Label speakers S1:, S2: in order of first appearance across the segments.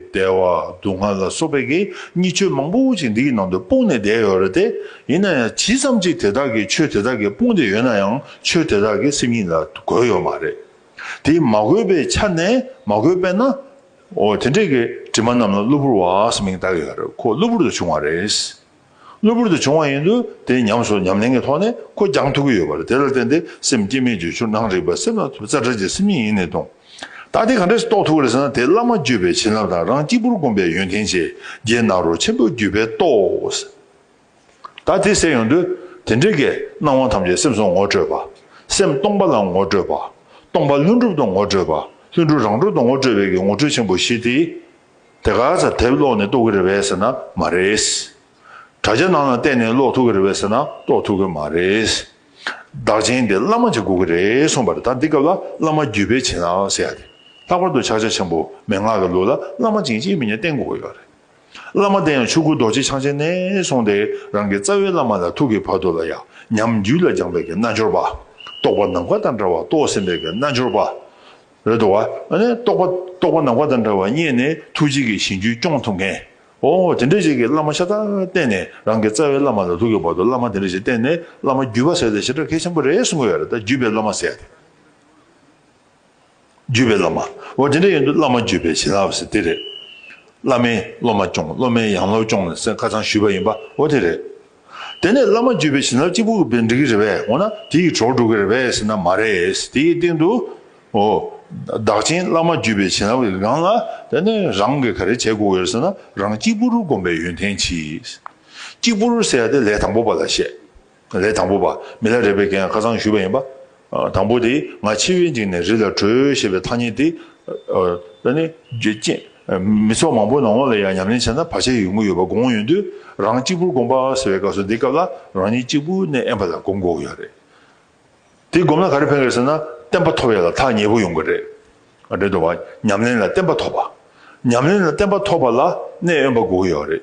S1: བདེ་བ་སྡུག་བསྔལ་ལ་སོགས་པའི་གེགས་གཉིས་ཆོས་མང་པོ་ཞིག་འདི་ཡི་ནང་དུ་སྤུངས་ནས་བསྡད་ཡོད་རེད་དེ། ཡིན་ན་ཡང་ཇི་ཙམ་གྱིས་དེ་དག་གིས་ཆོས་དེ་དག་གིས་སྤུངས་ཏེ་ཡོད་ན་ཡང་ཆོས་དེ་དག་གིས་སེམས་ཉིད་ལ་གོས་ཡོད་མ་རེད། དེ་མ་གོས་པའི་ཆ་ནས་མ་གོས་པས་ན། འོ་དེ་འདྲས་ཀྱི་དྲི་མ་རྣམས་ལ་གློ་བུར་བ་ཞེས་མིང་བཏགས་ཡོད་རེད་ཁོ་གློ་བུར་དུ་བྱུང་བ་རེད། གློ་བུར་དུ་བྱུང་བ་ཡིན་དུས་དེ་ཉམས་སོ་ཉམས་ལེན་གྱི་ཐོག་ནས་ཁོ་རྒྱང་ཐུག་གི་ཡོད་པ་རེད་དེ་ལ་བརྟེན་ཏེ་སེམས་བསྐྱེད་མའི་བརྗོད་བྱུར་སྣང་རིག་པ་སེམས་ལ་ཐུབ་རྩལ་བྲལ་གྱི་སེམས་ཉིད་ཡིན་ནི་སྟོང། ད་དེ་ག་འདྲས་སུ་རྟོགས་ཐུབ་བ་རེད་ཟེར་ན་དེ་བླ་མ་བརྒྱུད་པའི་བྱིན་རླབས་དང་རང་གཅིག་པུར་བསྒོམས་པའི་ཡོན་ཏན་ཆེ་རྒྱལ་ནཱ་རོ་ཆེན་པོའི་བརྒྱུད་པས་རྟོགས། ད་དེ་ཟད་ཡོང་དུས་དེ་འདྲའི་གས་སྣང་བ་ཐམས་ཅད་སེམས་སུ་ངོ་སྤྲོད་པ། སེམས་སྟོང་པ་ལ་ངོ་སྤྲོད་པ། སྟོང་པ་ལྷུན་གྲུབ་ཏུ་ངོ་སྤྲོད་པ་ལྷུན་གྲུབ་རང་གྲོལ་དུ་ངོ་སྤྲོད་པའི་གི་ངོ་སྤྲོད་ཆེན་པོ་བཞི་དེ་དེ་ག་ཚ་དེབ་ཀློག་ནས་རྟོགས་གི་རེད་བས་ཟེར་ན་མ་རེད། དྲ་རྒྱ་ནང་ལ་བལྟས་ནས་ཀློག་ཐུབ་གི་རེད་བས་ཟེར་ན་རྟོགས་ཐུབ་གི་མ་རེད། བདག་ཆེན་དེ་བླ་མ་གཅིག་དགོས་གི་རེད་གསུངས་པ་རེད་ད་འདི་སྐབས་ལ་བླ་མ་བརྒྱུད་སྤེལ་བྱེད་ན་ཟེར་ཡ་དེ་ལྷག་པར་དུ་ཕྱག་ཆ་ཆེན་པོ་མན་ངག་གི་ལུགས་ལ་བླ་མ་ཅིང་གཅིག་མིན་གཉིས་བསྟེན་དགོས་ཀྱི་ཡོད་རེད། བླ་མ་བསྟེན་ཡང་ཆོས་སྐུ་རྡོ་རྗེ་འཆང་ཆེན་གནས་སོང་སྟེ་རང་གི་རྩ་བའི་བླ་མ་ལ་ཐུག་གི་བར་དོ་ལ་ཡང་ཉམས་རྒྱུད་ལ་སྦྱངས་པའི་གི་རྣལ་འབྱོར་པ། རྟོགས་པ་ནམ་མཁའ་ལྟར་འདྲ་བ་རྟོགས་ཟིན་པའི་གི་རྣལ་འབྱོར་པ། རེད་དོ། ཨ་ནི་རྟོགས་པ་རྟོགས་པ་ནག་པ་དང་འདྲ་བར་བརྙས་ནས་ཐུགས་རྗེ་གིས་བྱིན་གྱིས་སྐྱོང་ཐུབ་མཁན། ཨོ་དེ་འདྲ་ཞིག་གིས་བླ་མ་ཤ་སྟག་བསྟེན་ནས་རང་གི་རྩ་བའི་བླ་མ་ལ་ལུག་གི་བར་དུ་བླ་མ་དེ་འདྲ་ཞིག་བསྟེན་ནས་བླ་མ་བརྒྱུད་པ་ཟེར་ཏེ་ཞེ་དྲག་གལ་ཆེན་པོ་རེད་གསུང་གི་ཡོད་རེད་ད་བརྒྱུད་པའི་བླ་མ་ཟེར་ཏེ། བརྒྱུད་པའི་བླ་མ། ཨོ་དེ་འདྲ་ཡིན་དུས་བླ་མ་བརྒྱུད་པའི་བྱིན་རླབས་ཟེར་དེ་རེད། བླ་མས་སློབ་མ་སྐྱོང་སློབ་མས་ཡང་སློབ་སྐྱོང་ནས་སེམས་ཁ་ཚང་ཞུས་པ་ཡིན་པ་ཨོ་དེ་རེད། དེ་ནས་བླ་མ་བརྒྱུད་པའི་བྱིན་རླབས་གཅིག་པུ་གྱི་བེར་འགྲིག་གི་རེད་པས་འོ་ན་དེ་ཡི་གྲོགས་འགྲོ་གི་རེད་པས་ཟེར་ན་མ་རེད། དེ་ཡི་སྟེང་དུ། འོ། བདག་ཆེན་བླ་མ་བརྒྱུད་པའི་བྱིན་རླབས་ཀྱི་སྒང་ལ་དེ་ནི་རང་གིས་ག་རེ་བྱས་དགོས་ཡོད་ཟེར་ན་རང་གཅིག་པུར་བསྒོམ་པའི་ཡོན་ཏན་གྱིས། གཅིག་པུར་ཟེར་ཡ་དེ་ལས་དང་པོ་པ་ལ་བཤད། ལས་དང་པོ་པ་མི་ལ་རས་པའི་འགན་ཁ་ཚང་ཞུས་པ་ཡིན་པ། དང་པོ་དེ་ང་འཆི་བའི་འཇིགས་ནས་རི་ལ་བྲོས་ཞེས་པའི་ཐ་སྙད་དེ། ད་ནི། ཅེས། མི་ཚོགས་མང་པོའི་ནང་ལ་ཡང་ཉམས་ལེན་བྱས་ན་བར་ཆད་ཡོད་མགོ་ཡོད་པ་དགོངས་ཡོད་དུས་རང་གཅིག་པུར་སྒོམ་པ་ཟེར་བའི་སྐབས་སུ་འདི་སྐབས་ལ་རང་ཉིད་གཅིག་པུ་ནས་ཨེན་པ་ལ་སྒོམ་དགོས་ཡོད་རེད། དེ་སྒོམ་ན་ག་རེ་ཕན་དགོས་ཟེར་ན་བསྟན་པ་ཐོབ་ཡ་ལ་ཐག་ཉེ་པོ་ཡོང་གི་རེད། རེད་འདུག་བ། ཉམས་ལེན་ལ་བསྟན་པ་ཐོབ་པ། ཉམས་ལེན་ལ་བསྟན་པ་ཐོབ་པ་ལ་གནས་ཨེན་པ་དགོས་ཡོད་རེད།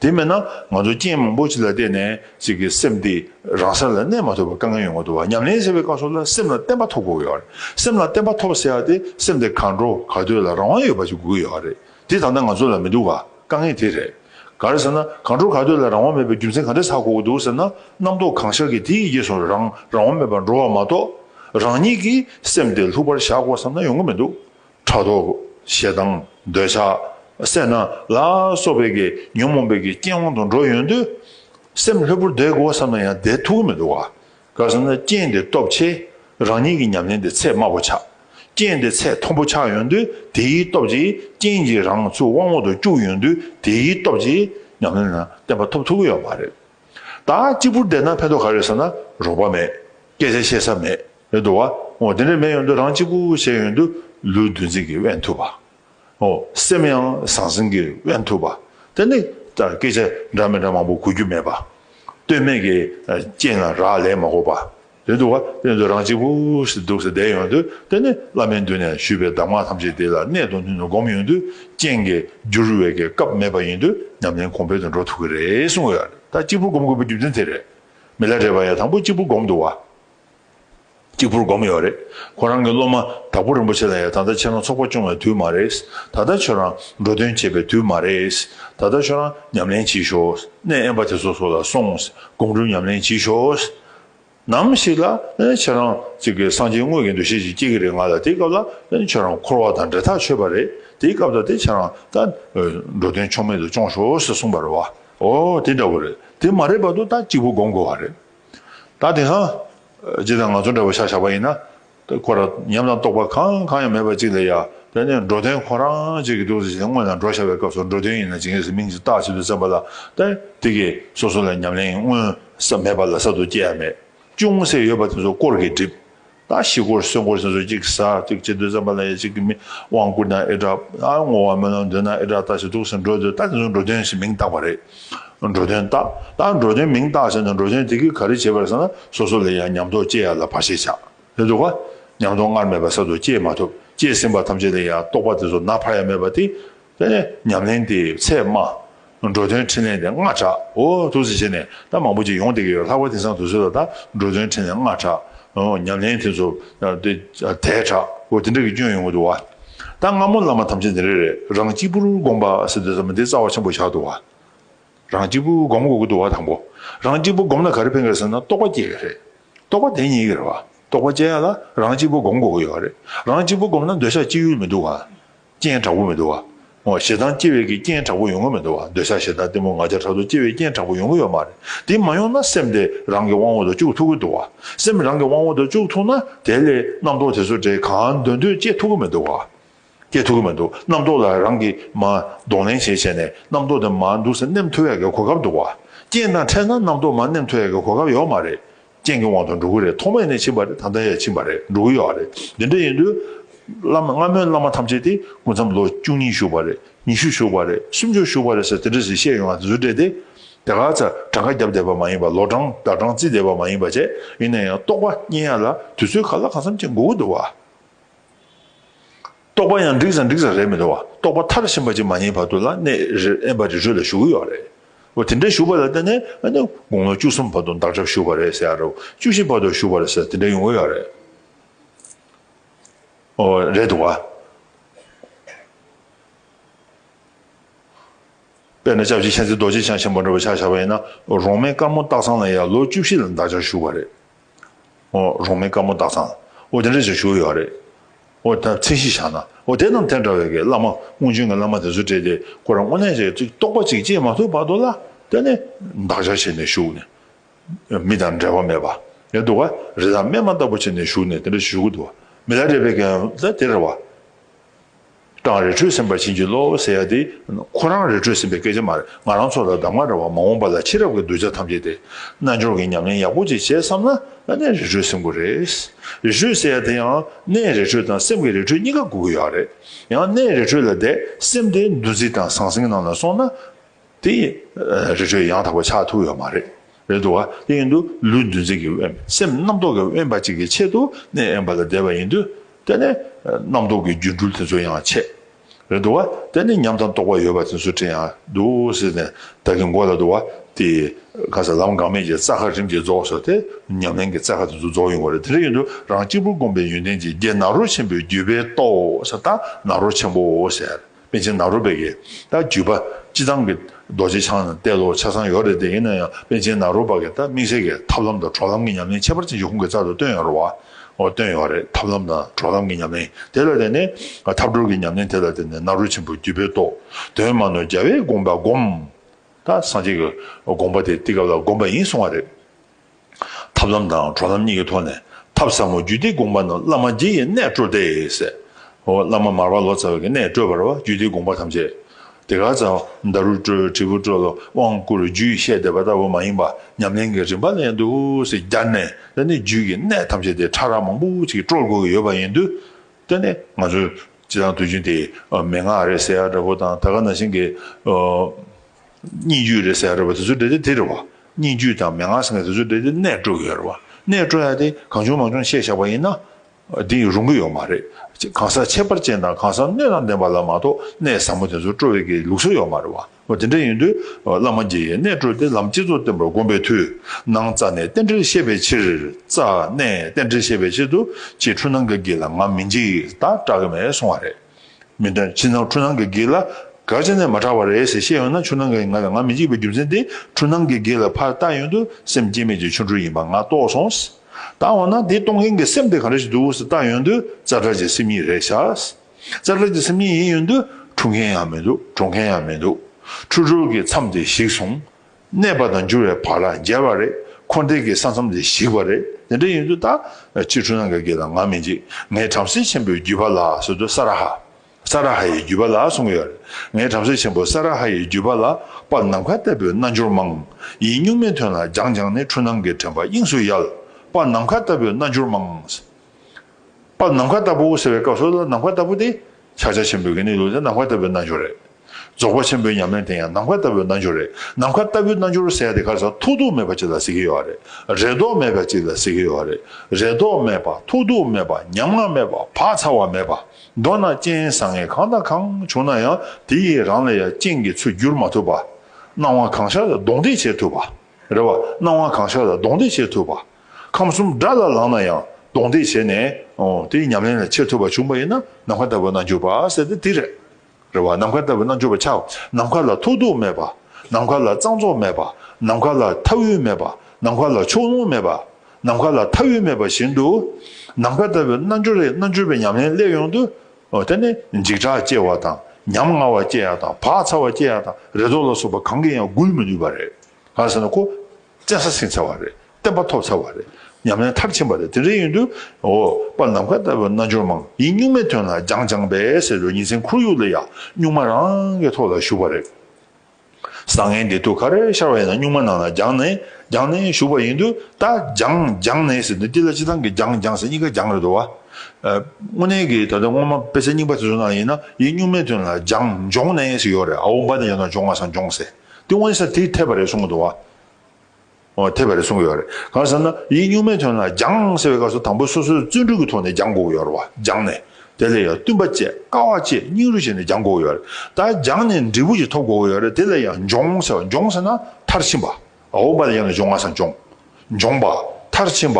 S1: དེ་མེད་ན་ང་ཚོ་རྐྱེན་མང་པོ་ཞིག་ལ་བརྟེན་ནས་ཅིག་གིས་སེམས་དེ་རང་ས་ལ་གནས་མ་ཐུབ་པར་དཀའ་ངལ་ཡོང་གི་འདུག་བ་ཉམས་ལེན་བྱེད་པའི་སྐབས་སུ་ལ་སེམས་ལ་བརྟན་པ་ཐོབ་དགོས་ཡོད་རེད་སེམས་ལ་བརྟན་པ་ཐོབ་ཟེར་བ་དེ་སེམས་དེ་གང་འགྲོ་ག་སྡོད་ལ་རང་དབང་ཡོད་པ་ཞིག་དགོས་ཡོད་རེད་དེ་ད་ལྟ་ང་ཚོ་ལ་མི་འདུག་བ་དཀའ་ངལ་དེ་རེད། ག་རེ་ཟེར་ན་གང་འགྲོ་ག་སྡོད་ལ་རང་དབང་མེད་པའི་རྒྱུ་མཚན་ག་འདྲ་ཚ་དགོས་ཀྱི་འདུག་ཟེར་ན་རྣམ་རྟོག་གང་ཤར་གྱི་དེ་ཡི་རྗེས་སུ་རང་རང་དབང་མེད་པར་འགྲོ་བ་མ་གཏོགས་རང་ཉིད་ཀྱིས་སེམས་དེ་ལྷུག་པར་བཞག་དགོས་བསམ་ན་ཡོང་གི་མི་འདུག་ཕྲག་དོག། ཞེ་སྡང། འདོད་ཆགས། སེར་སྣ། ལ་སོགས་པའི་གེགས་ཉོན་མོངས་པའི་གེགས་རྐྱེན་དབང་དུ་འགྲོ་ཡོང་དུས། སེམས་ལྷོད་པོར་བསྡད་དགོས་བསམ་ན་ཡང་བསྡད་ཐུག་གི་མི་འདུག་ག་ག་སོང་ན་རྐྱེན་འདི་སྟོབས་ཆེ། རང་ཉིད་ཀྱི་ཉམས་ལེན་དེ་ཚད་དམའ་བོ་ཆགས། རྐྱེན་དེ་ཚད་མཐོན་པོ་ཆགས་ཡོང་དུས་དེའི་སྟོབས་ཀྱིས་རྐྱེན་གྱིས་རང་ཚུགས་དབང་འོག་ཏུ་བཅུག་ཡོང་དུས་དེའི་སྟོབས་ཀྱིས་ཉམས་ལེན་ལ་བརྟན་པ་ཐོབ་ཐུག་གི་ཡོད་མ་རེད། ད་གཅིག་པུར་བསྡད་ན་ཕན་ཐོགས་ག་རེད་ཟེར་ན་རོགས་པ་མེད། སྐད་ཆ་བཤད་ས་མེད། རེད་འདུག་བ། འོ་དེ་འདྲ་མེད་ཡོང་དུས་རང་གཅིག་པུ་བྱས་ཡོང་དུས་ལུས་འདུ་འཛི་གིས་དབེན་ཐུབ་པ། འོ་སེམས་ཡང་ཟང་ཟིང་གིས་དབེན་ཐུབ་པ། དེ་ནི་ལྟར་སྐད་ཆ་འདྲ་མི་འདྲ་མང་པོ་གོ་རྒྱུ་མེད་པ། སྟོད་སྨད་ཀྱི་སྤྱན་ལ་རག་ལས་མ་གོ་པ། དོན་དུ་བ་དཔོན་དུ་རང་གཅིག་པུ་ཞིག་འདུག་ཟེར་བསྡད་ཡོང་དུས་དེ་ནི་བླ་མའི་མདུན་ནས་ཞུས་པའི་གདམས་ངག་ཐམས་ཅད་དེ་ལ་གནད་དུ་བསྣུན་ནས་སྒོམ་ཡོང་དུས་རྐྱེན་གྱིས་འགྱུར་བའི་སྐབས་མེད་པ་ཡིན་དུས་ཉམས་ལེན་གོང་འཕེལ་དུ་འགྲོ་ཐུབ་ཀྱི་རེད་གསུངས་ཡོད་རེད་ད་གཅིག་པུར་སྒོམ་དགོས་པའི་རྒྱུ་མཚན་དེ་རེད། མི་ལ་དྲས་པ་ཡང་དང་པོ་གཅིག་པུར་སྒོམ་འདུག་བ། གཅིག་པུར་སྒོམ་ཡོད་རེད་ཁོ་རང་གི་སློབ་མ་དྭགས་པོ་རིན་པོ་ཆེ་ལ་ཡང་ད་ལྟ་ཁྱེད་རང་ཚོགས་པ་སྐྱོང་བའི་དུས་མ་རེད། ད་ལྟ་ཁྱོད་རང་འགྲོ་དོན་བྱེད་པའི་དུས་མ་རེད། ད་ལྟ་ཁྱོད་རང་ཉམས་ལེན་བྱེད་ཤོག་གནས་དབེན་པ་དེ་ཚོ་སོགས་ལ་སོང་སྒོམ་སྒྲུབ་ཉམས་ལེན་བྱེད་ཤོག་ནམ་ཞིག་ལ་ཁྱེད་རང་གཅིག་གིས་སངས་རྒྱས་དངོས་ཀྱི་འདུ་ཤེས་ཤིག་སྐྱེ་གི་རེད་ང་ལ་དེའི་སྐབས་ལ་ཁྱེད་རང་འཁོར་བ་དང་འབྲེལ་ཐག་ཆོད་པ་རེད་དེའི་སྐབས་ལ་དེ་ཁྱེད་རང་ད་འགྲོ་དོན་ཕྱོགས་མེད་དུ་སྐྱོང་ཞོར་ཞེས་གསུངས་པར་བ་ཨོ་དེ་འདྲ་བོ་རེད་དེ་མ་རེད་བར་དུ་ད་གཅིག་པུ་སྒོམ་དགོས་བ་རེད་ད་དེ་སང་ཇི་ལྟར་ང་ཚོ་འདྲ་བོ་ཤག་ཤག་པ་ཡིན་ན་ཏེ། ཁོ་རང་ཉམས་དང་རྟོགས་པ་གང་གང་ཡང་མེད་པ་གཅིག་ལ་ཡ། དེ་ནས་འགྲོ་དོན་ཁོ་རང་གཅིག་གིས་བསྒྲུབས་ཟིན་སྔོན་ལ་འགྲོ་བྱ་བའི་སྐབས་སུ་འགྲོ་དོན་ཡིན་ན་ཇི་སྙེད་སུ་མིང་གཅིག་བཏགས་གཅིག་ཏུ་བརྩམས་པ་ལ་ཏེ། དེ་གིས་སོ་སོ་ལ་ཉམས་ལེན་མངོན་གསལ་མེད་པ་ལ་གསར་དུ་སྐྱེ་ཡ་མེད། ཅུང་ཟད་ཡོད་པ་དེ་ཚོ་སྐོར་གྱིས་བསྒྲིབས། ད་ཕྱིས་སྐོར་གསོན་སྐོར་ཟེར་ཚུལ་གཅིག་གིས་ཟག་གཅིག་གཅིག་ཏུ་བརྩམས་པ་ལ་ཡ་གཅིག་གིས་མི་དབང་བསྐུར་ན་ཨེ་གྲགས། ཨ་བསྔོ་བ་སྨོན་ལམ་འདོན་ན་ཨེ་གྲགས་ལྟ་བྱེད་དུག་སེལ་འགྲོ་འདོད་ལྟ་དེ་ཚོ་འགྲོ་དོན་ཞེས་མིང་བཏགས་པ་རེད། འགྲོ་དོན་བརྟག། བརྟག་འགྲོ་དོན་མིང་བརྟག་བྱ་ན་འགྲོ་དོན་དེ་གིས་ག་རེ་བྱེད་པར་ས་ན་སོ་སོ་ལ་ཡང་ཉམས་རྟོགས་སྐྱེ་ཡ་ལ་བར་ཆད་བྱ། ལེ་འདུག་གོ། ཉམས་རྟོགས་སྔར་མེད་པ་གསར་དུ་སྐྱེས་མ་ཐུབ། སྐྱེས་ཟིན་པ་ཐམས་ཅད་ལ་ཡང་རྟོགས་པ་དེ་ཚོ་ན་བར་ཡ་མེད་པ་སྟེ། དེ་ནས་ཉམས་ལེན་དེ་ཚད་སྨྲ། འགྲོ་དོན་འཕྲིན་ལས་དེ་སྔ་གྲགས། འོ། ཐུགས་བརྩེ་ཆེ་ནས་ད་མང་པོ་ཅིག་ཡོང་བསྡད་ཀྱི་ཡོད་ལྷག་པ་དེང་སང་དུ་ཚོད་ལ་ད་འགྲོ་དོན་འཕྲིན་ལས་སྔ་གྲགས། ཉམས་ལེན་དེ་ཚོ་དེ་དལ་གྲགས། འོ་དེ་འདྲ་གི་སྐྱོན་ཡོང་གི་འདུག་བ། ད་སྔ་མོ་བླ་མ་ཐམས་ཅད་འདི་རེ་རེ་རང་གཅིག་པུར་དགོངས་པ་ཟེར་དུས་ཟ་མ་ཏིའི་རྩ་བ་ཆེན་པོ་བཞག་འདུག་བ། རང་གཅིག་པུར་བསྒོམ་དགོས་ཀྱི་འདུག་བ་དང་པོ། རང་གཅིག་པུར་བསྒོམས་ན་ག་རེ་ཕན་གི་རེད་ཟེར་ན་རྟོགས་པ་སྐྱེ་གི་རེད། རྟོགས་པ་དེ་ཉིད་ཀྱི་རེད་བ། རྟོགས་པ་སྐྱེ་ཡག་ལ་རང་གཅིག་པུར་བསྒོམ་དགོས་ཀྱི་ཡོད་བ་རེད། རང་གཅིག་པུར་བསྒོམས་ན་འདོད་ཆགས་སྐྱེ་ཡུལ་མི་འདུག་བ། རྐྱེན་དྲག་པོ་མི་འདུག་བ། ཞེ་སྡང་སྐྱེ་བའི་གི་རྐྱེན་དྲག་པོ་ཡོང་གི་མི་འདུག་བ་འདོད་ཆགས་ཞེ་སྡང་གཏི་མུག་ང་རྒྱལ་ཕྲག་དོག་སྐྱེ་བའི་རྐྱེན་དྲག་པོ་ཡོང་གི་ཡོད་མ་རེད། དེ་མ་ཡོང་ན་སེམས་དེ་རང་གི་དབང་བོ་དང་བཅུག་ཐུག་གི་འདུག་བ། སེམས་རང་གི་དབང་བོ་དང་བཅུག་ཐུག་ན་དེ་ལས་རྣམ་རྟོག་དེ་ཚོ་དེ་གང་འདོད་འདོད་སྐྱེ་ཐུག་གི་མི་འདུག་བ། སྐྱེ་ཐུག་གི་མི་འདུག་རྣམ་རྟོག་ལ་རང་གིས་མ་གདོང་ལེན་བྱས་བྱས་ནས་རྣམ་རྟོག་དེ་མ་འདུག་ས་སྣེམ་ཐོ་ཡག་གི་གོ་སྐབས་འདུག་བ། རྐྱེན་དང་འཕྲད་ན་རྣམ་རྟོག་མ་སྣེམ་ཐོ་ཡག་གི་གོ་སྐབས་ཡོག་མ་རེད། རྐྱེན་གྱི་དབང་དུ་འགྲོ་གི་རེད་ཐོག་མེད་ནས་ཕྱིན་པ་རེད་ད་ལྟ་ཡང་ཕྱིན་པ་རེད་འགྲོ་གི་ཡོད་རེད་འདི་འདྲ་ཡིན་དུས། བླ་མ་སྔ་མོའི་བླ་མ་ཐམས་ཅད་དེ་སྐུ་མཚམས་ལོ་བཅུ་གཉིས་བཞུགས་པ་རེད་ཉི་ཤུ་བཞུགས་པ་རེད་སུམ་ཅུ་བཞུགས་པ་རེད་ཟེར་དེ་འདྲ་ཟེར་བཤད་ཡོང་བ་དེ་ཚོ་འདྲེ་སྟེ། དེ་ག་ཚ་གྲངས་ཀ་བརྒྱབ་བསྡད་པ་མ་ཡིན་པ་ལོ་གྲངས་ཟླ་གྲངས་བརྩིས་བསྡད་པ་མ་ཡིན་པ་བྱས་ཡིན་ན་ཡང་རྟོགས་པ་རྙེད་ཡ་ལ་དུས་ཚོད་ག་ལ་གང་འཚམ་ཅིག་འགོར་གི་འདུག་བ། རྟོག་པ་ཡང་འགྲིག་ས་འགྲིག་ས་རེད་མི་འདུག་བ་རྟོག་པ་མཐར་ཕྱིན་པ་ཅིག་མ་རྙེད་བར་དུ་ལ་གནས་རེར་ཨེ་འབའ་རི་ཁྲོད་ལ་ཞུགས་ཀྱི་ཡོད་རེད་འོ་དེ་འདྲ་ཞུགས་པ་ལ་བརྟེན་ནས་ཨ་ནི་དགུང་ལོ་བཅུ་གསུམ་བར་དུ་འདག་སྒྲ་ཞུགས་པ་རེད་ཟེར་ཡ་རབས་བཅུ་བཞི་བར་དུ་ཞུགས་པ་རེད་ཟེར་དེ་འདྲ་ཡོང་གི་ཡོད་རེད་འོ་རེད་འདུག་བ། དཔེར་ན་ལྕགས་བྱི་མཁྱེན་བརྩེ་རྡོ་རྗེ་འཆང་ཆེན་པོ་འདྲ་བོ་ཕྱག་བཞག་པ་ཡིན་ན་རོང་མའི་དཀར་མོ་སྟག་ཚང་ལ་ཡང་ལོ་བཅུ་བཞི་ལ་འདག་སྒྲ་ཞུགས་པ་རེད། རོང་མའི་དཀར་མོ་དག་ཚང། འོ་དེ་འདྲ་ཅིག་བཞུགས་ཡོད་རེད། འོ་ད་ཚིག་གཞི་བཞག་ན། འོ་དེ་རྣམས་དེ་འདྲ་བའི་གི་བླ་མ་སྔོན་བྱོན་གི་བླ་མ་དེ་ཚོ་བྲིས་ཏེ་ཁོ་རང་དངོས་གནས་ཀྱི་ཅིག་རྟོགས་པ་ཅིག་སྐྱེས་མ་ཐུབ་བར་དུ་ལ་དེ་ནི་བདག་ཅག་བྱས་ནས་བཞུགས་ནས། མི་དང་འབྲལ་བ་མེད་པ། ཡ་འདུག་ག་རེ་དང་སྨན་མ་ལྟ་བུ་བྱས་ནས་བཞུགས་ནས་དེ་འདྲ་བཞུགས་གི་འདུག་ག་མི་ལ་རས་པའི་གན་ད་དེ་རེད་བ། ཀྲང་རི་ཁྲོད་ཟིན་པར་བྱིན་གྱིས་རློབས་ཟེར་ཡ་དེ། ཁོ་རང་རི་ཁྲོད་ཟིན་པའི་སྐད་ཆ་མ་རེད་ང་རང་ཚོ་ལ་གདམ་ང་འདྲ་བ་མ་འོངས་པ་ལ་ཕྱི་རབས་ཀྱི་གདུལ་བྱ་ཐམས་ཅད་དེ། རྣལ་འབྱོར་གྱི་ཉམས་ལེན་ཡག་པོ་ཅིག་བྱེད་བསམ་ན་ཨ་ནེ་རི་ཁྲོད་ཟིན་དགོས་རེད། རི་ཁྲོད་ཟེར་ཡ་དེ་ཡང་སྣའི་རི་ཁྲོད་དང་སེམས་ཀྱི་རི་ཁྲོད་གཉིས་ཀ་དགོས་ཀྱི་ཡོད་རེད། ཡང་སྣའི་རི་ཁྲོད་ལ་བསྡད་སེམས་དེ་འདུ་འཛི་དང་ཟང་ཟིང་ནང་ལ་སོང་ན། དེ་ཡིན། རི་ཁྲོད་ཡང་དག་པའི་ཆ་ཐུག་ཡོད་མ་རེད། རེད་འདུག་ག་དེ་ཡིན་དུས་ལུས་འདུ་འཛི་གི་དབེན། སེམས་རྣམ་རྟོག་གི་དབེན་པ་ཅིག་གི་ཆེད་དུ་གནས་དབེན་པ་ལ་བསྡད་པ་ཡིན་དུས། དེ་ནི། རྣམ་རྟོག་གི་སྒྱུ་འཕྲུལ་དེ་ཚོ་ཡང་ཆད། རེད་འདུག་ག་དེ་ནི་ཉམས་དང་རྟོག་པ་ཡོད་པ་དེ་ཚོ་དྲན་ཡང་འདུག་སེ་ནས་བདག་གི་མགོ་ལ་འདུག་ག་དེ། གང་ཟག་ལམ་འགག་མེད་ཀྱི་རྩ་ཁ་རིམ་གྱིས་རྫོགས་སོ་སྟེ། ཉམས་ལེན་གྱི་རྩ་ཁ་དེ་ཚོ་རྫོགས་ཡོང་བ་རེད་དེ་འདྲ་ཡིན་དུས་རང་གཅིག་པུར་སྒོམ་པའི་ཡོན་ཏན་གྱི་རྒྱན་ནཱ་རོ་ཆེན་པོའི་བརྒྱུད་པས་རྟོགས་ཟེར་ད་ནཱ་རོ་ཆེན་པོ་ཟེར། དཔེ་ཆའི་ནཱ་རོ་པའི་གེ་ཏཱ་བརྒྱུད་པ་སྤྱི་ཚང་གི་རྡོ་རྗེ་འཆང་ནི་དཔེ་ཀློག་ཆ་ཚང་ཡོད་རེད་དེ་ཡིན་ན་ཡང་དཔེ་ཆའི་ནཱ་རོ་པ་གེ་ཏཱ་དམིགས་བསལ་གྱི་ཐབས་ལམ་དང་གྲོགས་ལམ་གྱི་ཉམས་ལེན་ཁྱད་པར་ཅན་གྱི་ཁོང་གི་རྩ་དུ་བཏོན་ཡོད་རེད་བ། འོ་བཏོན་ཡོད་རེད་ཐབས་ལམ་དང་གྲོགས་ལམ་གྱི་ཉམས་ལེན་དེ་ལ་བརྟེན་ནས་ཐབས་གྲོལ་གྱི་ཉམས་ལེན་དེ་ལ་བརྟེན་ནས་ནཱ་རོ་ཆེན་པོ་བརྒྱུད་པའི་རྟོག་དོན་མ་ནོར་རྒྱལ་བའི་དགོངས་པ་བསྒོམ། ད་སངས་རྒྱས་ཀྱི་དགོངས་པ་དེ་དེ་སྐབས་ལ་བསྒོམས་པ་ཡིན་གསུང་བ་རེད། ཐབས་ལམ་དང་གྲོགས་ལམ་གཉིས་ཀྱི་ཐོག་ནས་ཐབས་ཟབ་མོ་བརྒྱུད་འདི་དགོངས་པ་རྣམས་བླ་མ་རྗེ་ཡི་གནས་སྤྲོ་སྟེ། བླ་མ་མར་བ་ལོ་ཙཱ་བའི་གནས་སྤྲོས་པར་བ་བརྒྱུད་འདི་དགོངས་པ་ཐམས་ཅད་དེ་ག་ཙམ་མདའ་རུ་སྤྲོས་དྲིལ་བུ་སྤྲོས་ལ་དབང་བསྐུར་རྒྱུད་བཤད་འདེབས་པ་ལྟ་བུ་མ་ཡིན་པ་ཉམས་ལེན་གྱི་རིམ་པ་ལས་འདུག་ཟེར་རྒྱར་ནས་ད་ནི་རྒྱུད་ཀྱི་གནས་ཐམས་ཅད་དེ་ཕྲ་རགས་མང་པོ་ཅིག་སྤྲོར་དགོས་ཀྱི་ཡོད་པ་ཡིན་དུས་ད་ནི་ང་ཚོས་སྤྱི་དང་དུས་རྒྱུན་དེ་མན་ངག་རེད་ཟེར་ཡག་འདྲ་པོ་དང་ད་ག་ན་བཞིན་གྱི། སྙིགས་རྒྱུད་རེད་ཟེར་ཡོད་རེད་བ་དེ་ཚོའི་འབྲེལ་དེ་དེ་རེད་བ། སྙིགས་རྒྱུད་དང་མན་ངག་ཟེར་མཁན་དེ་ཚོའི་འབྲེལ་དེ་གནས་སྤྲོ་གི་ཡོད་རེད་བ། གནས་སྤྲོ་ཡག་དེ་གང་བྱུང་མང་བྱུང་བཤད་བཞག་པ་ཡིན་ན། དེ་རུང་གི་ཡོད་མ་རེད། གང་ཟག་ཁྱད་པར་ཅན་དང་གང་ཟག་སྣོད་དང་ལྡན་པ་ལ་མ་གཏོགས་གནས་ཟབ་མོ་དེ་ཚོ་སྤྲོ་བའི་གི་ལུགས་སྲོལ་ཡོད་མ་རེད་བ། འོ་དེ་འདྲ་ཡིན་དུས་བླ་མ་འགྱེད་ཡས་གནས་སྤྲོ་དེ་ལམ་སྤྱི་ཚོགས་བསྟན་པར་དགོངས་པའི་དུས། ནང་རྩ་ནས་རྟེན་འབྲེལ་བཤད་པའི་ཕྱིར། རྩ་ནས་རྟེན་འབྲེལ་བཤད་པའི་ཕྱིར་དུ་ཁྱེད་འཁྲུལ་སྣང་གི་གི་ལ་ང་མི་འགྱེད་ད་སྐྲག་གི་མེད་སོང་བ་རེད། མི་འདྲ། ཕྱི་ནང་འཁྲུལ་སྣང་གི་གེགས་ལ་གར་བྱས་ནས་མ་དྲག་པ་རེད་ཟེར་ཤེས་ཡོང་ན་ཆུ་ནང་གི་ང་དང་ང་མི་གཅིག་པའི་རྒྱུ་མཚན་དེ་འཁྲུལ་སྣང་གི་གེགས་ལ་ཕར་བལྟ་ཡོང་དུས་སེམས་བསྐྱེད་མེད་ཀྱི་ཆོ་འཕྲུལ་ཡིན་པ་ང་རྟོགས་སོང། ད་འོ་ན་དེ་གཏོང་མཁན་གྱི་སེམས་དེ་ག་རེ་ཞིག་འདུག་ཟེར་བལྟ་ཡོང་དུས་རྩ་བྲལ་གྱི་སེམས་ཉིད་རེད་བྱ། རྩ་བྲལ་གྱི་སེམས་ཉིད་ཡིན་ཡོང་དུས་འཁྲུལ་མཁན་ཡང་མི་འདུག་གྲོངས་མཁན་ཡང་མི་འདུག་འཁྲུལ་གྲོལ་གྱི་མཚམས་དེ་གཞིག་སོང། གནས་པ་དང་འགྱུར་བའི་བར་ལ་འགྱེལ་བ་རེད། འཁོར་འདས་ཀྱི་ས་མཚམས་ལས་ཞིག་པ་རེད། དེ་འདྲ་ཡིན་དུས་ད། ཕྱི་འཁྲུལ་ནང་གི་དགེ་དང་ངག་མི་འཇིག། ངས་བྲམ་ཟེ་ཆེན་པོའི་བརྒྱུད་པ་ལ་ཟེར་དུས་ས་ར་ཧ། ས་ར་ཧ་ཡི་བརྒྱུད་པ་ལ་གསུང་གི་ཡོད་རེད། ངས་བྲམ་ཟེ་ཆེན་པོ་ས་ར་ཧ་ཡི་བརྒྱུད་པ་ལ་པར་ནམ་མཁའ་ལྟ་བུའི་རྣལ་འབྱོར་མང། ཡིད་གཉུག་མའི་དོན་ལ་སྦྱངས་སྦྱངས་ནས་འཁྲུལ་སྣང་གི་དྲན་པ་དབྱིངས་སུ་ཡལ། པར་ནམ་མཁའ་ལྟ་བུའི་རྣལ་འབྱོར་མང། པར་ནམ་མཁའ་ལྟ་བུ་ཟེར་བའི་སྐབས་སུ་ནམ་མཁའ་ལྟ་བུ་དེ། ཕྱག་རྒྱ་ཆེན་པོའི་དགེ་ནི་ལུས་དེ་ནམ་མཁའ་ལྟ་བུའི་རྣལ་འབྱོར་རེད། རྫོགས་པ་ཆེན་པོའི་ཉམས་ལེན་དེ་ཡང་ནམ་མཁའ་ལྟ་བུའི་རྣལ་འབྱོར་རེད། ནམ་མཁའ་ལྟ་བུའི་རྣལ་འབྱོར་ཟེར་དེ་གར་ས་ཐོག་ཐུག་མེད་པ་ཅིག་ལ་ཟེར་གྱི་ཡོད་རེད། རེ་དོགས་མེད་པ་ཅིག་ལ་ཟེར་གྱི་ཡོད་རེད། རེ་དོགས་མེད་པ་ཐུག་ཐུག་མེད་པ་ཉམ་ང་མེད་པ་བག་ཚ་བ་མེད་པ། མདོར་ན་སྤྱན་བཟང་ངན་གང་དང་གང་བྱུང་ན་ཡང་དེ་ཡི་རང་ལ་ཡང་སྤྱན་གྱི་ཚུལ་བསྒྱུར་མ་ཐུབ་པ། སྣང་བ་གང་ཤར་ལ་གདོང་འདེགས་བྱེད་ཐུབ་པ། རེད་བ། སྣང་བ་གང་ཤར་ལ་གདོང་འདེགས་བྱེད་ཐུབ་པ། ཁམས་གསུམ་དགྲ་ལ་ལངས་ན་ཡང་གདོང་འདེགས་བྱས་ནས། དེ་ཡི་ཉམས་ལེན་ལ་ཆས་ཐུབ་པ་བྱུང་བ་ཡིན་ན་ནམ་མཁའ་ལྟ་བུའི་རྣལ་འབྱོར་པ་ཟེར་དེ་དེ་རེད། རེ་བ་ནམ་མཁའ་ལྟ་བུའི་རྣལ་འབྱོར་པ་ཆགས། ནམ་མཁའ་ལ་ཐོགས་རྡུགས་མེད་པ། ནམ་མཁའ་ལ་གཙང་བཙོག་མེད་པ། ནམ་མཁའ་ལ་མཐའ་དབུས་མེད་པ། ནམ་མཁའ་ལ་ཕྱོགས་ལྷུང་མེད་པ། ནམ་མཁའ་ལ་མཐའ་དབུས་མེད་པ་བཞིན་དུ། ནམ་མཁའ་ལྟ་བུའི་རྣལ་འབྱོར་རེས་རྣལ་འབྱོར་པའི་ཉམས་ལེན་སླད་ཡོང་དུ། དེ་ནི་འཇིགས་སྐྲག་སྐྱེ་བ་དང། ཉམ་ང་བ་སྐྱེ་ཡག་དང་བག་ཚ་བ་སྐྱེ་ཡག་དང་རེ་དོགས་ལ་སོགས་པ་གང་གིས་ཡང་བསྒུལ་མི་ནུས་པ་རེད། གང་ཟེར་ན་ཁོ། བཙན་ས་ཟིན་ཚར་བ་རེད་བསྟན་པ་ཐོབ་ཚར་བ་རེད་ཉམས་ལེན་མཐར་ཕྱིན་པ་རེད་དེ་འདྲའི་ཡོད་དུས་འོ་པ་ནམ་མཁའ་ལྟ་བུའི་རྣལ་འབྱོར་མང་ཡིན་གཉུག་མའི་དོན་ལ་སྦྱང་སྦྱང་བས་ཟེར་བའི་ཉིན་མཚན་ཁོར་ཡུག་ལ་ཡང་གཉུག་མ་རང་གི་ཐོག་ལ་བཞུགས་པ་རེད། བཟང་ངན་བདེ་སྡུག་ག་རེ་ཤར་བ་ཡིན་ན་གཉུག་མ་ནང་ལ་སྦྱང་ནས་སྦྱང་ནས་བཞུགས་པ་ཡིན་དུས་ད་སྦྱང་སྦྱང་ནས་ཟེར་དུས་འདི་ལ་སྤྱི་བཏང་གི་སྦྱང་སྦྱང་ཟེར་གཉིས་ཀ་སྦྱང་རེད་དོ། དངོས་གནས་ཀྱི་ད་ལྟ་སྔོན་མ་དཔེ་ཆ་རྙིང་པ་དེ་ཚོ་ནང་ཡིན་ན་ཡིན་གཉུག་མའི་དོན་ལ་སྦྱང་སྦྱོང་ནས་ཟེར་ཡོད་རེད་ཨོ་འབའ་ནི་ཡོད་ན་སྦྱོང་ང་སང་སྦྱོང་ཟེར། དེ་དབེན་ས་དེ་འཐད་པ་རེད་གསུངས་འདུག་བ། འཐད་པ་རེད་གསུངས་ཡོད་རེད། གང་ཟེར་ན། ཡིག་སྙུག་མའི་དོན་ལ་སྦྱངས་ཟེར་བའི་སྐབས་སུ་དང་པོ་སོ་སོའི་བརྩོན་འགྲུས་ཀྱི་ཐོག་ནས་སྦྱངས་དགོས་ཀྱི་ཡོད་རེད་བ། སྦྱངས་ནས། དེ་ལས་ཡང་བསྟུན་པ་བཅས་དཀའ་བ་བཅས་སྙིང་རུས་བྱས་ནས་སྦྱངས་དགོས་ཀྱི་ཡོད་རེད། ད་སྦྱངས་ནས་འབྲས་བུ་ཞིག་ཐོབ་དགོས་ཀྱི་ཡོད་རེད་དེ་ལ་ཡང་སྦྱོང་ཟེར་བ་སྦྱོང་ཟེར་ན་མཐར་ཕྱིན་པ། འོག་མ་ལ་ཡང་ལ་སྦྱོང་ང་སང་སྦྱོང། སྦྱོང་པ། མཐར་ཕྱིན་པ།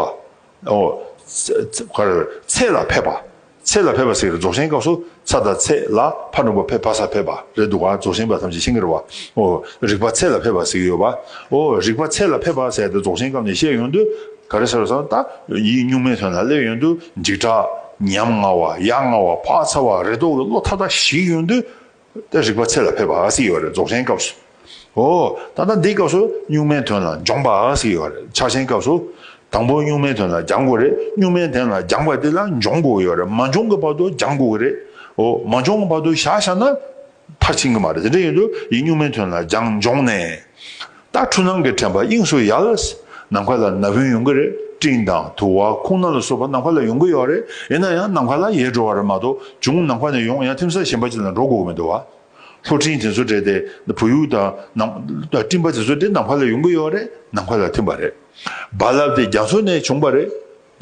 S1: ཨོ། ཚེ། ཚེ་ལ་ཕེབས་པ། ཚེ་ལ་ཕེབས་པ་ཟེར་གི་རྫོགས་ཆེན་སྐབས་སུ་ཚ་དང་ཚེ་ལ་ཕ་ནོར་བུ་ཕེབས་ཕ་ས་ཕེབས་པ་རེད་འདུག་ག་རྫོགས་ཆེན་པ་ཐམས་ཅད་ཤིང་ཀེར་བ། ཨོ། རིག་པ་ཚེ་ལ་ཕེབས་པ་ཟེར་གི་ཡོད་པ། ཨོ། རིག་པ་ཚེ་ལ་ཕེབས་པ་ཟེར་དེ་རྫོགས་ཆེན་སྐབས་ནས་བཤད་ཡོང་དུས་ག་རེ་ཟེར་བ་སོང་ད་ཡིག་གཉུག་མའི་དོན་ལ་སླེབས་ཡོང་དུས་འཇིགས་སྐྲག། ཉམ་ང་བ། ཡ་ང་བ། བག་ཚ་བ་རེ་དོགས་ཀྱི་བློ་ཐག་ཐག་ཞིག་ཡོང་དུས་ཏེ་རིག་པ་ཚད་ལ་ཕེབས་པ་ཞིག་ཡོད་རེད་རྫོགས་ཆེན་སྐབས་སུ། ཨོ། ད་ལྟ་འདིའི་སྐབས་སུ་གཉུག་མའི་དོན་ལ་སྦྱོང་པ་ཞིག་ཡོད་རེད་ཕྱག་ཆེན་སྐབས་སུ། དང་པོ་གཉུག་མའི་དོན་ལ་སྦྱང་དགོས་རེད་གཉུག་མའི་དོན་ལ་སྦྱངས་པ་དེ་ལ་འབྱོངས་དགོས་ཡོད་རེད་མ་འབྱོངས་གི་བར་དུ་སྦྱང་དགོས་ཀྱི་རེད། ཨོ། མ་འབྱོངས་གི་བར་དུ་བཞག་བཞག་ན། མཐར་ཕྱིན་གྱི་མ་རེད་དེ་འདྲ་ཡིན་དུས་ཡིན་གཉུག་མའི་དོན་ལ་སྦྱངས་འབྱོངས་ནས། རྟ་ཁྲུ་ནང་གི་བྲན་པ་དབྱིངས་སུ་ཡལ། ནམ་མཁའ་ལ་ན་བུན་ཡོང་གི་རེད་སྤྲིན་དང་དུ་བ་ཁུང་སྣ་ལ་སོགས་པ་ནམ་མཁའ་ལ་ཡོང་གི་ཡོད་རེད་ཡིན་ན་ཡང་ནམ་མཁའ་ལ་ཡལ་འགྲོ་བ་རེད་མ་གཏོགས་བྱུང་ནམ་མཁའ་ནས་ཡོང་ཡང་ཐིམ་ས་གཞན་པ་ཅིག་ལ་འགྲོ་དགོས་ཀྱི་མི་འདུག་བ། ལྷོ་སྤྲིན་དེ་ཚོ་དྲེད་དེ་བུ་ཡུག་དང། སྤྲིན་པ་དེ་ཚོ་དྲེད་ནམ་མཁའ་ལ་ཡོང་གི་ཡོད་རེད་ནམ་མཁའ་ལ་ཐིམ་པ་རེད། རྦ་རླབས་དེ་རྒྱ་མཚོ་ནས་བྱུང་བ་རེད།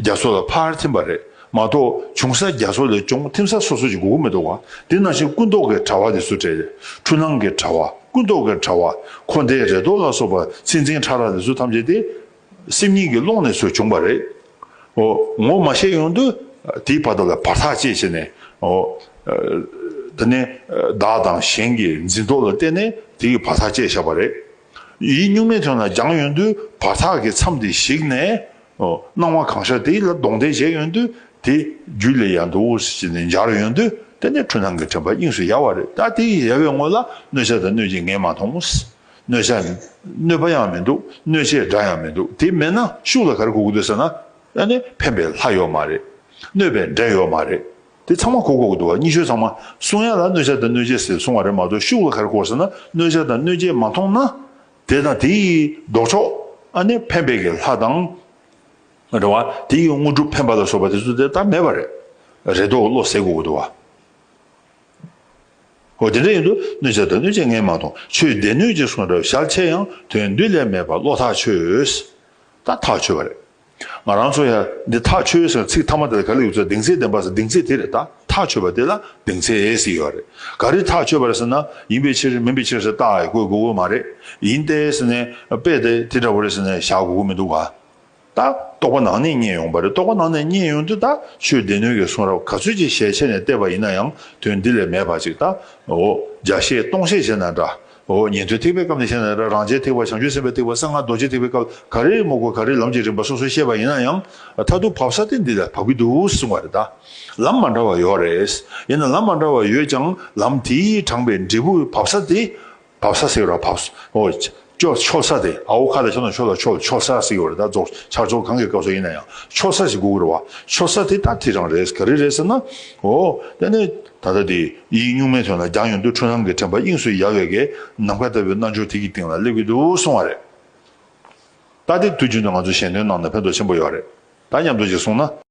S1: རྒྱ་མཚོ་ལ་ཕར་ཐིམ་པ་རེད་མ་གཏོགས་འབྱུང་ས་རྒྱ་མཚོ་ལས་ཅུང་ཐིམ་ས་སོ་སོ་ཅིག་དགོས་མཁོ་མི་འདུག་བ་དེ་ནང་བཞིན་ཀུན་རྟོག་གི་དྲ་བ་དེ་སུ་དྲས་ཏེ་འཁྲུལ་སྣང་གི་དྲ་བ་ཀུན་རྟོག་གི་དྲ་བ་འཁོར་འདས་རེ་དོགས་ལ་སོགས་པ་ཚིག་འཛིན་ཕྲ་རགས་དེ་ཚོ་ཐམས་ཅད་དེ་སེམས་ཉིད་ཀྱི་ཀློང་ནས་སུ་བྱུང་བ་རེད་འོ་ངོ་མ་ཤེས་ཡོང་དུས་དེའི་བར་དོ་ལ་བར་ཐག་བཅད་བྱས་ནས་འོ་ད་ནི་བདག་དང་གཞན་གྱི་འཛིན་རྟོག་ལ་བལྟས་ནས་དེའི་བར་ཐག་བཅད་བཞག་པ་རེད་ཡིད་གཉུག་མའི་དོན་ལ་སྦྱངས་ཡོང་དུས་བར་ཐག་གི་མཚམས་དེ་གཞིག་ནས་སྣང་བ་གང་ཤར་དེ་ལ་གདོང་གཏད་བྱས་ཡོང་དུས་དེ་རྒྱུད་ལས་ཡང་དུ་འོད་ཟེར་ཅན་འདི་འབྱར་ཡོང་དུས་དེ་ནི་འཁྲུལ་སྣང་གི་དྲན་པ་དབྱིངས་སུ་ཡལ་བ་རེད་ད་དེ་ཡི་ཡལ་བའི་སྔོན་ལ་གནོད་བྱ་དང་གནོད་བྱེད་ངས་མ་མཐོང་ངོ། གནོད་བྱ། གནོད་པ་ཡང་མི་འདུག་གནོད་བྱེད་སྒྲ་ཡང་མི་འདུག་དེ་མེད་ན་ཤུགས་ལ་ག་རེ་གོ་གི་འདུག་ཟེར་ན། ད་ནི་ཕན་པའི་ལྷ་ཡོད་མ་རེད། གནོད་པའི་འདྲེ་ཡོད་མ་རེད། དེ་ཚང་མ་གོ་གོ་གི་འདུག་བ་གཉིས་ཤོས་ཚང་མ་གསུང་ཡ་ལ་གནོད་བྱ་དང་གནོད་བྱེད་ཟེར་གསུང་བ་རེད་མ་གཏོགས་ཤུགས་ལ་ག་རེ་གོ་ཟེར་ན་གནོད་བྱ་དང་གནོད་བྱེད་མ་མཐོང་ན། དེ་དང་དེ་ཡི་ལྡོག་ཕྱོགས་ནི་འཕེན་པའི་གི་ལྷ་དང། འདྲ་བ། དེ་ཡི་དངོས་གྲུབ་འཕེན་པ་ལ་སོགས་པ་དེ་ཚོ་དེ་ལྟར་མེད་པ་རེད། རེ་དོགས་བློ་ཟད་གོ། འདུ་བ། དེ་འདྲ་ཡིན་དུ་གནོད་བྱེད་དང་གནོད་བྱེད་ངས་མ་མཐོང་ཆོས་སྡེ་སྣོད་ཅིག་སོང་འདྲ་བ་ཞག་ཕྱེད་ཡང་དོན་བདུད་ལས་མེད་པ་བློ་ཐག་ཆོད། ད་ཐག་ཆོད་པ་རེད། ང་རང་ཚོ་ཡང་འདི་ཐག་ཆོད་ཟེར་ན་ཚིག་མཐའ་མ་དེ་ལ་ག་ལ་ཡོད་ཚོད་གདེང་ཚད་ལྡན་པ་ཟེར་གདེང་ཚད་དེ་རེད་ད་ཐག་ཆོད་པ་དེ་ལ་གདེང་ཚད་ཨེ་ཟེར་ཡོད་རེད་ག་རེ་ཐག་ཆོད་པ་རེད་ཟེར་ན་ཡིན་པའི་ཕྱིར་མིན་པའི་ཕྱིར་ཟེར་རྟགས་ཡག་དགོས་དགོས་དགོས་མ་རེད་ཡིན་ཏེ་ཟེར་ནས་དཔེ་དེ་དེ་འདྲ་བོ་རེད་ཟེར་ནས་བཞག་དགོས་དགོས་མི་འདུག་ག་ད་རྟོགས་པ་ནང་ནས་རྙེད་ཡོང་པ་རེད་རྟོགས་པ་ནང་ནས་རྙེད་ཡོང་དུས་ད་ཆོས་སྡེ་སྣོད་ཀྱི་གསུང་རབ་ག་ཚོད་ཅིག་ཞལ་ཕྱེ་ནས་བལྟས་པ་ཡིན་ན་ཡང་དོན་འདི་ལས་མེད་པ་ཅིག་ད་འོ་བརྒྱ་བཤད་སྟོང་བཤད་བྱས་ན་འདྲ་འོ་ཉི་ཟློའི་ཐིགས་པའི་སྐབས་ནས་བཤད་ན་རང་རྒྱལ་ཐིགས་པ་བྱང་ཆུབ་སེམས་དཔའི་ཐིགས་པ་གསང་སྔགས་རྡོ་རྗེ་ཐིགས་པའི་སྐབས་ག་རེ་མུག་པ་ག་རེ་ལམ་གྱི་རིམ་པ་སོ་སོར་བཤད་པ་ཡིན་ན་ཡང། མཐར་ཐུག་བབས་ས་སྟེ་འདི་ལ་བབས་ཀྱི་འདུག་གསུང་བ་རེད་ད། ལམ་མ་འདྲ་བ་ཡོད་རེད། ཡིན་ན་ལམ་མ་འདྲ་བ་ཡོད་ཀྱང་ལམ་དེའི་དྲངས་པའི་འབྲས་བུ་བབས་ས་དེ། བབས་ས་ཟེར་བ་བབས། འོ། ཅོག་ཆོག་ས་དེ་ཨའོ་ཁ་ལ་ཆོག་ན་ཆོག་ལ་ཆོག་ལ་ཆོག་ས་ཟེར་གྱི་ཡོད་རེད་ད་རྫོགས་ཆགས་ཆོག་གང་གི་སྐབས་སུ་ཡིན་ན་ཡང་ཆོག་ས་ཞིག་དགོས་ཀྱི་རེད་བ། ཆོག་ས་དེ་ལྟ་དེ་རང་རེད་ག་རེ་རེད་ཟེར་ན། འོ། དེ་ནས། ད་ལྟ་དེ་ཡིག་གཉུག་མའི་དོན་ལ་རྒྱང་ཡོང་དུས་འཕྲུལ་སྣང་གི་དྲན་པ་དབྱིངས་སུ་ཡལ་བའི་གའི་ནམ་མཁའ་ལྟ་བུའི་རྣལ་འབྱོར་དེ་ཀྱི་སྟེང་ལ་སླེབས་ཀྱི་འདུག་གསུང་བ་རེད། ད་ལྟའི་དུས་རྒྱུན་དུ་ང་ཚོ་གཞན་དོན་ནང་ན་ཕན་ཐོགས་ཆེན་པོ་ཡོད་རེད་ད་སྙམ་འདུག་ཅེས་གསུངས་ན།